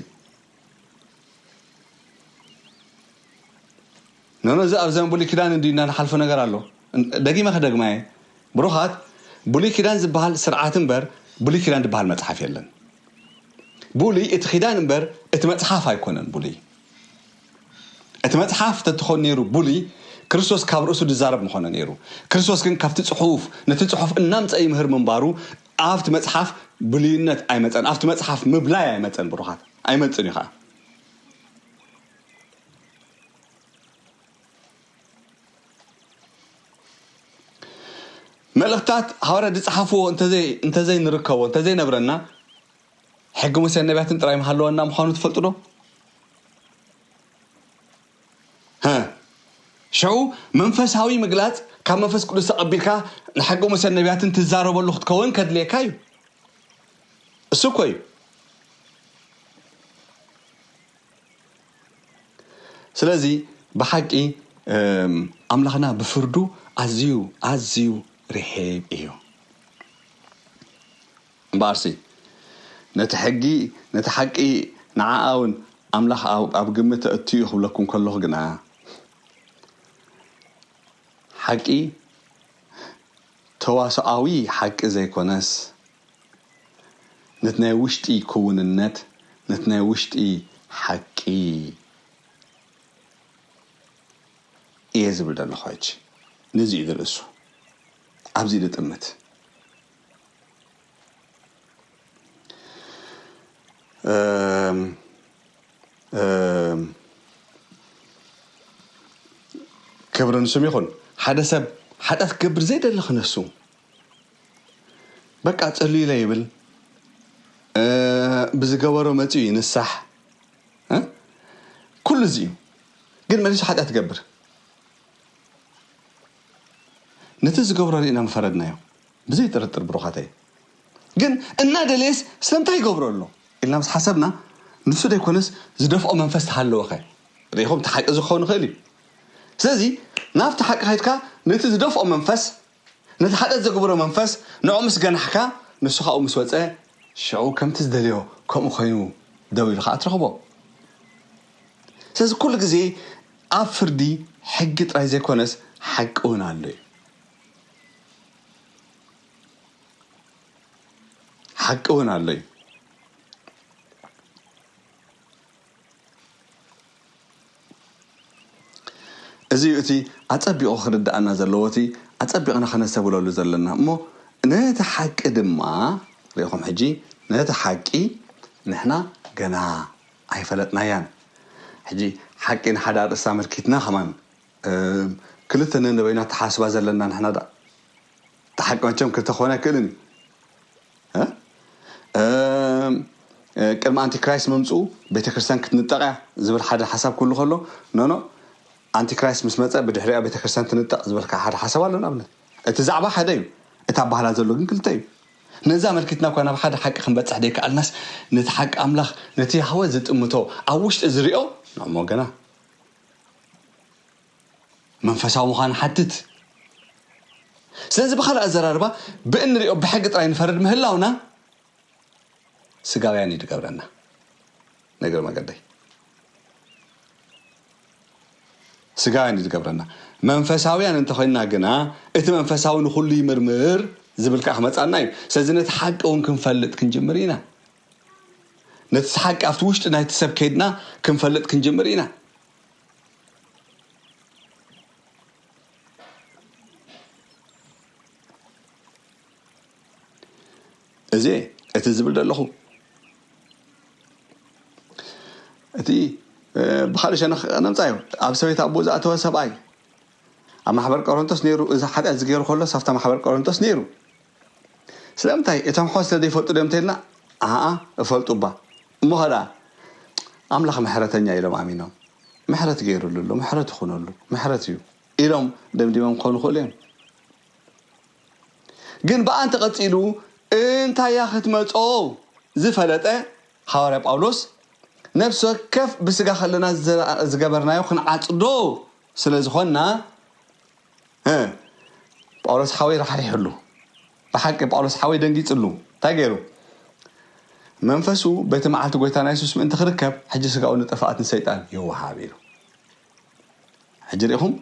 ኖኖ እዚ ኣብ ዘመን ብሉይ ኪዳን እንድዩ እንዳንሓልፎ ነገር ኣሎ ደጊመ ክደግማ እየ ብሩኻት ብሉይ ኪዳን ዝበሃል ስርዓት እምበር ብሉይ ኪዳን ዝበሃል መጽሓፍ የለን ብሉይ እቲ ኪዳን እምበር እቲ መጽሓፍ ኣይኮነን ብሉይ እቲ መጽሓፍ ተትኾን ነይሩ ብሉይ ክርስቶስ ካብ ርእሱ ዝዛረብ ምኾነ ነይሩ ክርስቶስ ግን ካብቲ ጽሑፍ ነቲ ጽሑፍ እናምጸ ይምህር ምንባሩ ኣብቲ መጽሓፍ ብሉይነት ኣይመጸን ኣብቲ መጽሓፍ ምብላይ ኣይመጸን ብሩኻት ኣይመጽን እዩ ኸኣ መልእኽታት ሃዋርያት ዝጸሓፍዎ እንተዘይ ንርከቦ እንተዘይ ነብረና ሕጊ ሙሴን ነቢያትን ጥራይ ምሃለወና ምዃኑ ትፈልጡ ዶ? ሀ ሸው መንፈሳዊ ምግላጽ ካብ መንፈስ ቅዱስ ተቐቢልካ ንሓቂ መሰል ነቢያትን ትዛረበሉ ክትከወን ከድልየካ እዩ እሱ እኮ እዩ ስለዚ ብሓቂ ኣምላኽና ብፍርዱ ኣዝዩ ኣዝዩ ርሒብ እዩ እምበኣርሲ ነቲ ሕጊ ነቲ ሓቂ ንዓኣ ውን ኣምላኽ ኣብ ግምት ኣእትዩ ክብለኩም ከለኹ ግና ሓቂ ተዋስኦኣዊ ሓቂ ዘይኮነስ ነቲ ናይ ውሽጢ ክውንነት ነቲ ናይ ውሽጢ ሓቂ እየ ዝብል ዘለኹ ሕጂ ነዚ እዩ ዝርእሱ ኣብዚ ልጥምት ክብሪ ንስም ይኹን ሓደ ሰብ ሓጢኣት ክገብር ዘይደሊ ክነሱ በቃ ጸሉ ኢለ ይብል ብዝገበሮ መፅኡ ይንሳሕ ኩሉ እዚ እዩ ግን መሊሱ ሓጢኣት ትገብር ነቲ ዝገብሮ ርኢና ምፈረድናዮ ብዘይ ጥርጥር ብሩኻተይ ግን እናደለየስ ስለምንታይ ይገብሮ ኣሎ ኢልና ምስ ሓሰብና ንሱ ደይኮነስ ዝደፍኦ መንፈስ ተሃለወኸ ርኢኹም እቲ ሓቂ እዚ ክኸውን ይኽእል እዩ ስለዚ ናብቲ ሓቂ ከድካ ነቲ ዝደፍኦ መንፈስ ነቲ ሓጢኣት ዘግብሮ መንፈስ ንዕኡ ምስ ገናሕካ ንሱ ካብኡ ምስ ወፀ ሽዑ ከምቲ ዝደልዮ ከምኡ ኮይኑ ደው ኢሉ ከዓ ትረኽቦ ስለዚ ኩሉ ግዜ ኣብ ፍርዲ ሕጊ ጥራይ ዘይኮነስ ሓቂ ውን ኣሎ ዩ። ሓቂ ውን ኣሎ ዩ። እዚ ዩ እቲ ኣጸቢቑ ክርድኣና ዘለዎ እቲ ኣጸቢቕና ከነስተብህለሉ ዘለና እሞ ነቲ ሓቂ ድማ ሪኢኹም ሕጂ ነቲ ሓቂ ንሕና ገና ኣይፈለጥናያን ሕጂ ሓቂ ንሓዳ ርእሳ ኣመልኪትና ከማን እም ክልተ ነንበይኑ ኣተሓሳስባ ዘለና ንሕና ዳኣ እቲ ሓቂ መቸም ክልተ ክኮን ኣይክእልን እዩ እ እም ቅድሚ ኣንቲ ክራይስት ምምጽኡ ቤተክርስትያን ክትንጠቅ እያ ዝብል ሓደ ሓሳብ ክህሉ ከሎ ኖኖ ኣንቲ ክራይስት ምስ መጸ ብድሕሪኣ ቤተክርስትያን ትንጠቅ ዝበልካ ሓደ ሓሳብ ኣሎ ንኣብነት እቲ ዛዕባ ሓደ እዩ እቲ ኣባህላ ዘሎ ግን ክልተ እዩ ነዚ ኣመልኪትና እኳ ናብ ሓደ ሓቂ ክንበጽሕ ዘይከኣልናስ፣ ነቲ ሓቂ ኣምላኽ፣ ነቲ ያህወህ ዝጥምቶ፣ ኣብ ውሽጢ ዝርኦ፣ ንእሞ ግና መንፈሳዊ ምዃን ይሓትት። ስለዚ ብኻልእ ኣዘራርባ፣ ብእንርኦ ብሕጊ ጥራይ ንፈርድ ምህላውና ስጋውያን እዩ ዝገብረና። ንእግረ መገደይ። ስጋውያን እዩ ዝገብረና። መንፈሳውያን እንተኾይንና ግና እቲ መንፈሳዊ ንኹሉ ይምርምር ዝብል ከዓ ክመፃና እዩ። ስለዚ ነቲ ሓቂ እውን ክንፈልጥ ክንጅምር ኢና። ነቲ ሓቂ ኣብቲ ውሽጢ ናይቲ ሰብ ከይድና ክንፈልጥ ክንጅምር ኢና። እዜ እቲ ዝብል ደለኹ እቲ ብኻልእ ሸነኽ ነምጻ እዩ ኣብ ሰበይት ኣቦ ዝኣተወ ሰብኣይ ኣብ ማሕበር ቆሮንቶስ ነይሩ እዚ ሓጢኣት ዝገይሩ ከሎ ሳብታ ማሕበር ቆሮንቶስ ነይሩ ስለምንታይ እቶም ኣሕዋት ስለ ዘይፈልጡ ድዮም እንተኢልና ኣኣ እፈልጡ እባ እሞ ከደኣ ኣምላኽ ምሕረተኛ ኢሎም ኣሚኖም ምሕረት ገይሩሉ ኣሎ ምሕረት ይኹነሉ ምሕረት እዩ ኢሎም ደምዲሞም ክኾኑ ክእሉ እዮም ግን ብኣ እንተ ቐጺሉ እንታይ እያ ኽትመጾ ዝፈለጠ ሃዋርያ ጳውሎስ፣ ነፍሲ ወከፍ ብስጋ ኸለና ዝገበርናዮ ኽንዓጽዶ ስለ ዝዀንና፣ እ፣ ጳውሎስ ሓወይ ራሕሪሑሉ። ብሓቂ ጳውሎስ ሓወይ ደንጊጽሉ። እንታይ ገይሩ? መንፈሱ በቲ መዓልቲ ጐይታና የሱስ ምእንቲ ኽርከብ ሕጂ ስጋኡ ንጥፍኣት ንሰይጣን ይወሃብ ኢሉ። ሕጂ ርኢኹም?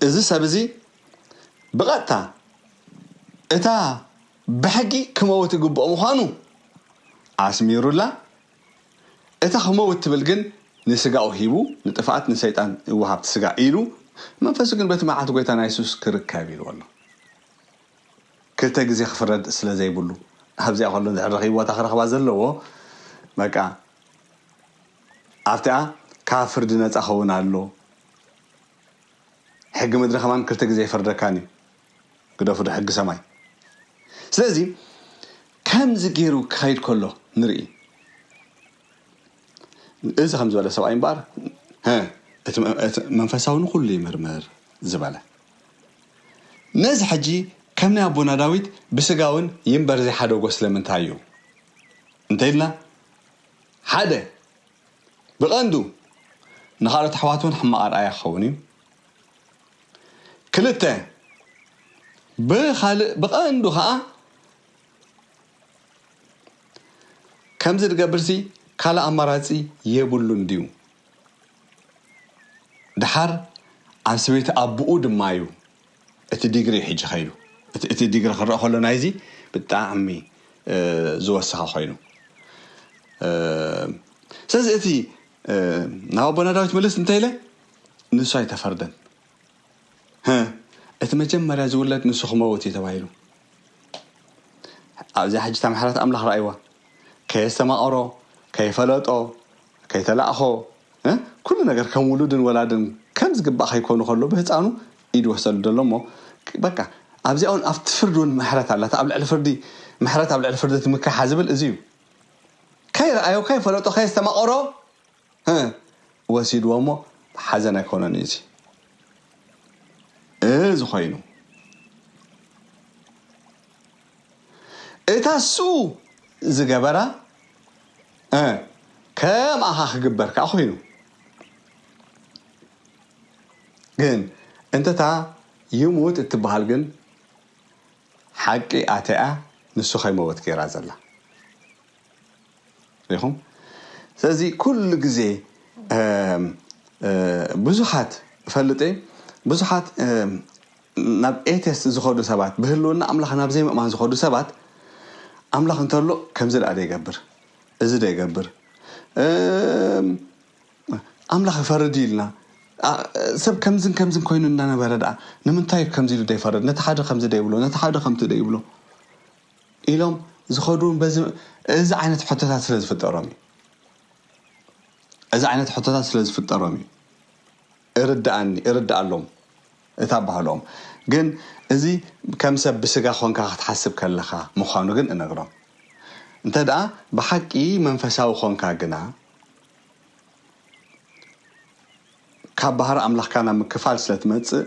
እዚ ሰብ እዚ ብቐጥታ እታ ብሕጊ ክመውት ይግብኦ ምዃኑ ኣስሚሩላ፣ እታ ክመውት ትብል ግን ንስጋኡ ሂቡ ንጥፍኣት ንሰይጣን ይወሃብቲ ስጋ ኢሉ መንፈሱ ግን በቲ መዓልቲ ጎይታና የሱስ ክርከብ ኢልዎ ኣሎ። ክልተ ግዜ ክፍረድ ስለ ዘይብሉ ኣብዚኣ ከሎ እንድሕር ረኺብዎ እታ ክረኽባ ዘለዎ በቃ ኣብቲኣ ካብ ፍርዲ ነጻ ክኸውን ኣሎዎ ሕጊ ምድሪ ከማን ክልተ ግዜ ኣይፈርደካን እዩ ግደፉዶ ሕጊ ሰማይ ስለዚ ከምዚ ገይሩ ክኸይድ ከሎ ንርኢ እዚ ከም ዝበለ ሰብኣይ እምበኣር መንፈሳዊ ንኩሉ ይምርምር ዝበለ ነዚ ሕጂ ከም ናይ ኣቦና ዳዊት ብስጋውን ይንበር ዘይሓደጎ ስለምንታይ እዩ እንተኢልና ሓደ፣ ብቐንዱ ንኻልኦት ኣሕዋት እውን ሕማቕ ኣርኣያ ክኸውን እዩ። ክልተ፣ ብኻልእ ብቐንዱ ኸኣ ከምዚ ዝገብርሲ ካልእ ኣማራጺ የብሉን ድዩ? ደሓር ኣብ ሰበይቲ ኣቡኡ ድማ እዩ እቲ ዲግሪ እዩ ሕጂ ከይዱ እቲ እቲ ዲግሪ ክረኣ ከሎ ናይዚ ብጣዕሚ ዝወሰኸ ኮይኑ ስለዚ እቲ ናብ ኣቦና ዳዊት ምልስ እንተኢለ ንሱ ኣይተፈርደን እቲ መጀመርያ ዝውለድ ንሱ ክመውት እዩ ተባሂሉ ኣብዚኣ ሕጂ ታምሓራት ኣምላኽ ረኣይዋ ከየስተማቐሮ ከይፈለጦ ከይተላእኮ እ ኩሉ ነገር ከም ውሉድን ወላድን ከም ዝግባእ ከይኮኑ ከሎ ብህጻኑ ኢዱ ወሰዱ ደሎ እሞ በቃ ኣብዚኣ ውን ኣብቲ ፍርዲ ውን ምሕረት ኣላ እቲ ኣብ ልዕሊ ፍርዲ ምሕረት ኣብ ልዕሊ ፍርዲ ትምካሓ ዝብል እዚ እዩ ከይረኣዮ ከይፈለጦ ከየስተማቐሮ እ ወሲድዎ እሞ ሓዘን ኣይኮነን እዩ እዚ እዚ ኮይኑ እታ ሱ ዝገበራ እ ከምኣኻ ክግበር ከኣ ኮይኑ ግን እንተታ ይሙት እትበሃል ግን ሓቂ ኣተያ ንሱ ከይመወት ገይራ ዘላ ሪኹም ስለዚ ኩሉ ግዜ ብዙሓት እፈልጥ እየ ብዙሓት ናብ ኤቴስት ዝኸዱ ሰባት፣ ብህልውና ኣምላኽ ናብ ዘይምእማን ዝኸዱ ሰባት፣ ኣምላኽ እንተሎ ከምዚ ደኣ ደይገብር፣ እዚ ደይገብር፣ እም ኣምላኽ ይፈርድ እዩ ኢልና፣ ሰብ ከምዝን ከምዝን ኮይኑ እናነበረ ደኣ ንምንታይ እዩ ከምዚ ኢሉ ደይፈርድ፣ ነቲ ሓደ ከምዚ ደይብሎ፣ ነቲ ሓደ ከምቲ ደይብሎ ኢሎም ዝኸዱ እውን በዚ እዚ ዓይነት ሕቶታት ስለ ዝፍጠሮም እዩ። እዚ ዓይነት ሕቶታት ስለ ዝፍጠሮም እዩ። እርደኣኒ እርደኣሎም እታ ባህሎም ግን እዚ ከም ሰብ ብስጋ ኮንካ ክትሓስብ ከለካ ምኳኑ ግን እነግሮም እንተደኣ ብሓቂ መንፈሳዊ ኮንካ ግና ካብ ባህሪ ኣምላኽካ ናብ ምክፋል ስለ ትመጽእ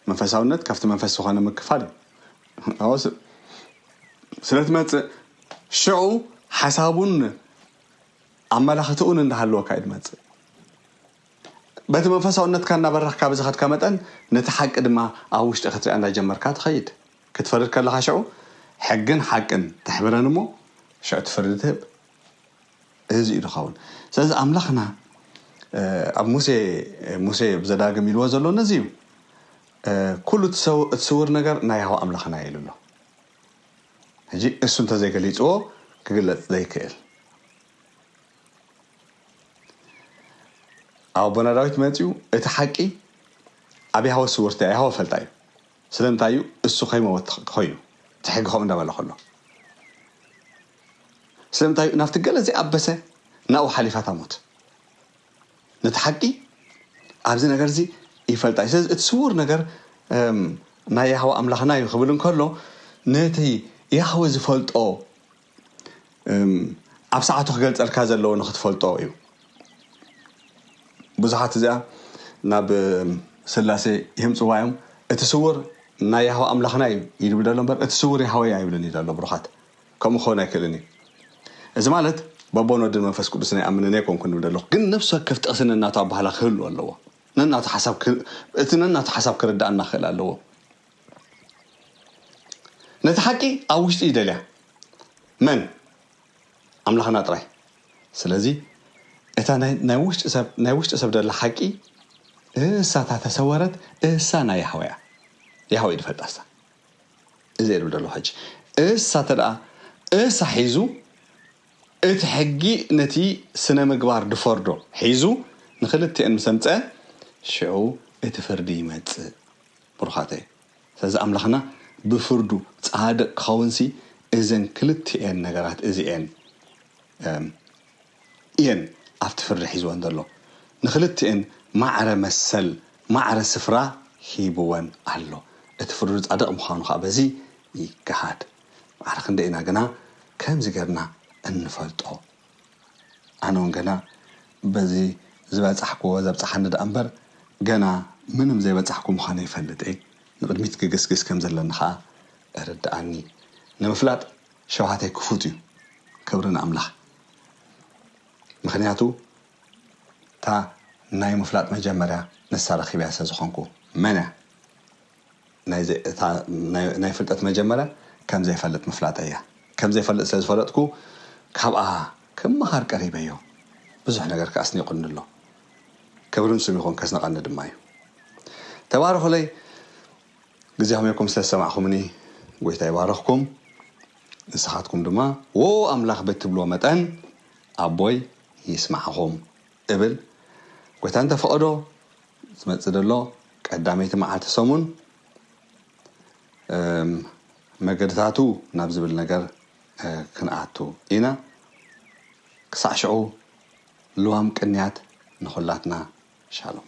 መንፈሳውነት ካብቲ መንፈስ ዝኾነ ምክፋል እዩ ስለ ትመጽእ ሽዑ ሓሳቡን ኣመላኽትኡን እንዳሃለወካ እዩ ድመጽእ በቲ መንፈሳውነትካ እናበራኽካ ብዝኸድካ መጠን ነታ ሓቂ ድማ ኣብ ውሽጢ ክትሪኣ እንዳጀመርካ ትኸይድ። ክትፈርድ ከለኻ ሽዑ ሕግን ሓቅን ተሕብረን እሞ ሽዑ እቲ ፍርዲ ትህብ። እህዚ እዩ ዝኸውን። ስለዚ ኣምላኽና ኣብ ሙሴ ሙሴ ኣብ ዘዳግም ኢልዎ ዘሎ ነዚ እዩ። ኩሉ እቲ ሰው እቲ ስውር ነገር ናይ ያህዋ ኣምላኽና እዩ ኢሉ ኣሎ። ሕጂ እሱ እንተዘይገሊጽዎ ክግለጽ ዘይክእል። ኣቦና ዳዊት መጺኡ እቲ ሓቂ ኣብ ያህወ ስውርቲ እያ ያህወ ፈልጣ እዩ ስለምንታይ እዩ እሱ ከይመወት ኮይኑ እቲ ሕጊ ከምኡ እንዳበለ ከሎ ስለምንታይ እዩ ናብቲ ገለ ዘይኣበሰ ናብኡ ሓሊፋ ታሞት ነቲ ሓቂ ኣብዚ ነገር እዚ ይፈልጣ እዩ ስለዚ እቲ ስውር ነገር ናይ ያህወ ኣምላኽና እዩ ክብል እንከሎ ነቲ ያህወ ዝፈልጦ ኣብ ሰዓቱ ክገልጸልካ ዘለዎ ንክትፈልጦ እዩ ብዙሓት እዚኣ ናብ ስላሴ ይህምጽዋ እዮም እቲ ስውር ናይ ያህዋ ኣምላኽና እዩ ይብል ዘሎ እምበር እቲ ስውር ያህወይ ኣይብልን እዩ ዘሎ ብሩኻት ከምኡ ክኸውን ኣይክእልን እዩ እዚ ማለት በቦን ወድን መንፈስ ቅዱስ ናይ ኣምንን ኣይኮንኩ ንብል ኣለኹ ግን ነፍሲ ወከፍ ጥቕሲ ነናቱ ኣባህላ ክህሉ ኣለዎ ነናቱ ሓሳብ እቲ ነናቱ ሓሳብ ክርዳእና ክእል ኣለዎ ነቲ ሓቂ ኣብ ውሽጢ ይደልያ መን ኣምላኽና ጥራይ ስለዚ እታ ናይ ናይ ውሽጢ ሰብ ናይ ውሽጢ ሰብ ደላ ሓቂ እሳ እታ ተሰወረት እሳ ናይ ያህወ እያ ያህወ ይፈልጣ እሳ እዚ እብል ደሎ ሕጂ እሳ ተደኣ እሳ ሒዙ እቲ ሕጊ ነቲ ስነ ምግባር ድፈርዶ ሒዙ ንክልትኤን ምስ ኣምፀ ሽዑ እቲ ፍርዲ ይመፅእ ብሩኻተይ ስለዚ ኣምላኽና ብፍርዱ ጻድቅ ክኸውንሲ እዘን ክልቲኤን ነገራት እዚኤን እም እየን ኣብቲ ፍርዲ ሒዝወን ዘሎ ንኽልቲኤን ማዕረ መሰል ማዕረ ስፍራ ሂብወን ኣሎ እቲ ፍርዱ ጻድቅ ምዃኑ ኸኣ በዚ ይገሃድ ማዕረ ክንደይ ኢና ግና ከምዚ ጌርና እንፈልጦ ኣነ ውን ገና በዚ ዝበጻሕክዎ ዘብጽሓኒ ደኣ እምበር ገና ምንም ዘይበጻሕኩ ምዃነይ ይፈልጥ እየ። ንቕድሚት ክግስግስ ከም ዘለኒ ከኣ እርደኣኒ። ንምፍላጥ ሸውሃተይ ክፉት እዩ። ክብሪ ንኣምላኽ። ምኽንያቱ እታ ናይ ምፍላጥ መጀመርያ ንሳ ረኺበያ ስለ ዝኾንኩ። መን እያ? ናይዚ እታ ናይ ፍልጠት መጀመርያ ከም ዘይፈልጥ ምፍላጠይ እያ። ከም ዘይፈልጥ ስለ ዝፈለጥኩ ካብኣ ክመሃር ቀሪበዮ። ብዙሕ ነገር ከኣ ኣስኒቑኒ ኣሎ። ክብሪ ንስም ይኹን ከስንቐኒ ድማ እዩ። ተባረኹለይ ግዜ ኾሚርኩም ስለ ዝሰማዕኹምኒ ጎይታ ይባርኽኩም። ንስኻትኩም ድማ ዎው ኣምላኽ ብትብልዎ መጠን ኣቦይ ይስማዕኹም። እብል ጎይታ እንተ ፈቐዶ ዝመጽእ ዘሎ ቀዳመይቲ መዓልቲ ሰሙን እም መገድታቱ ናብ ዝብል ነገር ክንኣቱ ኢና ክሳዕ ሽዑ ልዋም ቅንያት ንኹላትና ሻሎም።